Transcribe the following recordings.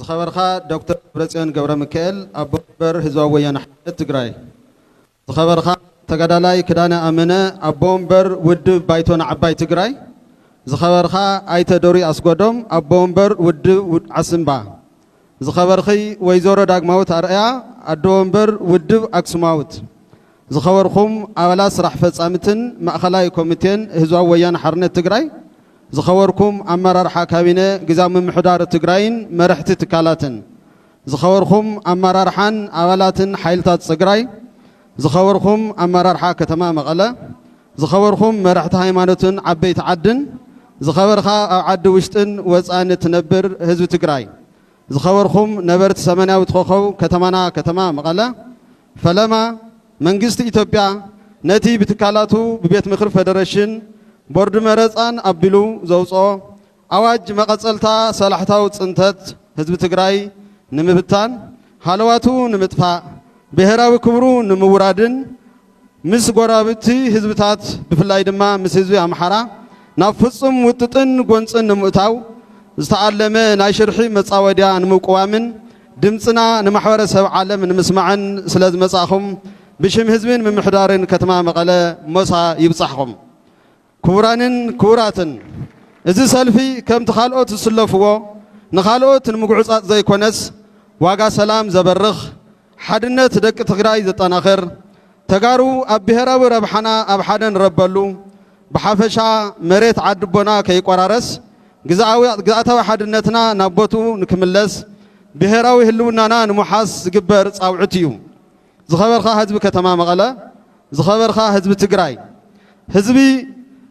ዝኸበርካ ዶክተር ደብረፅዮን ገብረሚካኤል ኣቦ መንበር ህዝባዊ ወያነ ሓርነት ትግራይ፣ ዝኸበርካ ተጋዳላይ ክዳነ ኣመነ ኣቦ ወንበር ውድብ ባይቶና ዓባይ ትግራይ፣ ዝኸበርካ ኣይተ ዶሪ ኣስጎዶም ኣቦ ወንበር ውድብ ዓስምባ፣ ዝኸበርኺ ወይዘሮ ዳግማዊት ኣርኣያ ኣዶ ወንበር ውድብ ኣክሱማውት፣ ዝኸበርኩም ኣባላት ስራሕ ፈፃምትን ማእኸላይ ኮሚቴን ህዝባዊ ወያነ ሓርነት ትግራይ፣ ዝኸበርኩም ኣመራርሓ ካቢነ ግዝያዊ ምምሕዳር ትግራይን መረሕቲ ትካላትን፣ ዝኸበርኩም ኣመራርሓን ኣባላትን ሓይልታት ፅግራይ፣ ዝኸበርኩም ኣመራርሓ ከተማ መቐለ፣ ዝኸበርኩም መረሕቲ ሃይማኖትን ዓበይቲ ዓድን፣ ዝኸበርኻ ኣብ ዓዲ ውሽጥን ወፃእን እትነብር ህዝቢ ትግራይ፣ ዝኸበርኩም ነበርቲ ሰመናዊት ኾኾብ ከተማና ከተማ መቐለ፣ ፈለማ መንግስቲ ኢትዮጵያ ነቲ ብትካላቱ ብቤት ምኽሪ ፈደረሽን ቦርዲ መረፃን ኣቢሉ ዘውፅኦ ኣዋጅ መቐፀልታ ሰላሕታዊ ፅንተት ህዝቢ ትግራይ ንምብታን፣ ሃለዋቱ ንምጥፋእ፣ ብሄራዊ ክብሩ ንምውራድን ምስ ጎረባብቲ ህዝብታት ብፍላይ ድማ ምስ ህዝቢ ኣምሓራ ናብ ፍፁም ውጥጥን ጎንፅን ንምእታው ዝተኣለመ ናይ ሽርሒ መፃወድያ ንምቁዋምን ድምጽና ንማሕበረ ሰብ ዓለም ንምስማዕን ስለ ዝመጻእኹም ብሽም ህዝብን ምምሕዳርን ከተማ መቐለ ሞሳ ይብጻሕኹም። ክቡራንን ክቡራትን እዚ ሰልፊ ከምቲ ካልኦት ዝስለፍዎ ንኻልኦት ንምጉዕጻጽ ዘይኮነስ ዋጋ ሰላም ዘበርኽ፣ ሓድነት ደቂ ትግራይ ዘጠናኽር፣ ተጋሩ ኣብ ብሄራዊ ረብሓና ኣብ ሓደ ንረበሉ፣ ብሓፈሻ መሬት ዓድቦና ከይቆራረስ፣ ግዝኣታዊ ሓድነትና ናብ ቦትኡ ንክምለስ፣ ብሄራዊ ህልውናና ንምውሓስ ዝግበር ፃውዒት እዩ። ዝኸበርካ ህዝቢ ከተማ መቐለ፣ ዝኸበርካ ህዝቢ ትግራይ፣ ህዝቢ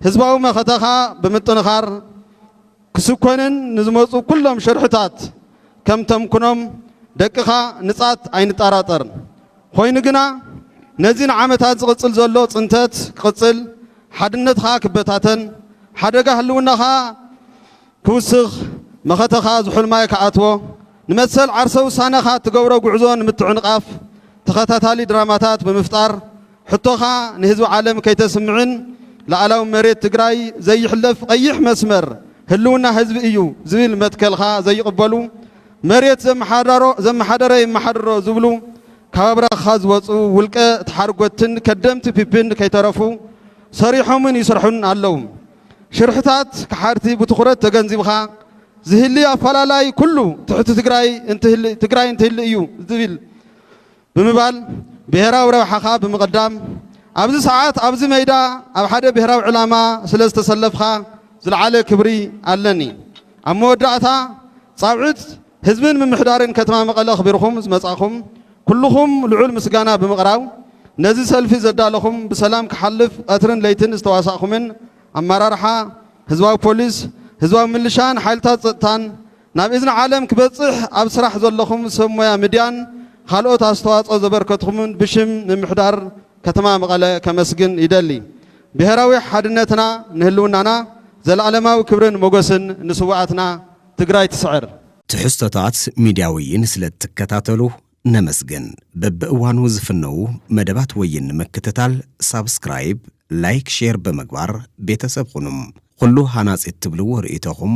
ህዝባዊ መኸተኻ ብምጥንኻር፣ ክስኮንን ንዝመጹ ኩሎም ሽርሕታት ከም ተምክኖም ደቅኻ ንጻት ኣይንጣራጠርን ኾይኑ ግና ነዚ ንዓመታት ዝቕጽል ዘሎ ጽንተት ክቕጽል ሓድነትኻ ክበታተን ሓደጋ ህልውናኻ ክውስኽ መኸተኻ ዝሑል ማይ ክኣትዎ ንመሰል ዓርሰ ውሳነኻ እትገብሮ ጉዕዞ ንምትዕንቓፍ ተኸታታሊ ድራማታት ብምፍጣር ሕቶኻ ንህዝቢ ዓለም ከይተስምዕን ልኣላዊ መሬት ትግራይ ዘይሕለፍ ቐይሕ መስመር ህልውና ህዝቢ እዩ ዝብል መትከልኻ ዘይቕበሉ መሬት ዘመሓዳሮ ዘመሓደረ የመሓድሮ ዝብሉ ካብ ኣብራኽኻ ዝወፁ ውልቀ ተሓርጎትትን ከደምቲ ፒፒን ከይተረፉ ሰሪሖምን ይስርሑን ኣለው። ሽርሕታት ከሓድቲ ብትኹረት ተገንዚብኻ ዝህሊ ኣፈላላይ ኩሉ ትሕቲ ትግራይ እንትህሊ ትግራይ እንትህሊ እዩ ዝብል ብምባል ብሄራዊ ረብሓኻ ብምቕዳም ኣብዚ ሰዓት ኣብዚ መይዳ ኣብ ሓደ ብሄራዊ ዕላማ ስለ ዝተሰለፍኻ ዝለዓለ ክብሪ ኣለኒ። ኣብ መወዳእታ ፃውዒት ህዝብን ምምሕዳርን ከተማ መቐለ ኣኽቢርኹም ዝመፃእኹም ኩልኹም ልዑል ምስጋና ብምቕራብ ነዚ ሰልፊ ዘዳለኹም ብሰላም ክሓልፍ ቐትርን ለይትን ዝተዋሳእኹምን ኣመራርሓ ህዝባዊ ፖሊስ፣ ህዝባዊ ምልሻን ሓይልታት ፀጥታን፣ ናብ እዝኒ ዓለም ክበጽሕ ኣብ ስራሕ ዘለኹም ሰብ ሞያ ምድያን ኻልኦት ኣስተዋጽኦ ዘበርከትኹምን ብሽም ምምሕዳር ከተማ መቐለ ከመስግን ይደሊ። ብሄራዊ ሓድነትና ንህልውናና ዘለኣለማዊ ክብርን ሞገስን ንስውኣትና! ትግራይ ትስዕር! ትሕዝቶታት ሚድያ ወይን ስለእትከታተሉ ነመስግን። በብእዋኑ ዝፍነዉ መደባት ወይን ንምክትታል ሳብስክራይብ፣ ላይክ፣ ሼር ብምግባር ቤተሰብ ኹኑ። ኹሉ ሃናፂ እትብልዎ ርእይቶኹም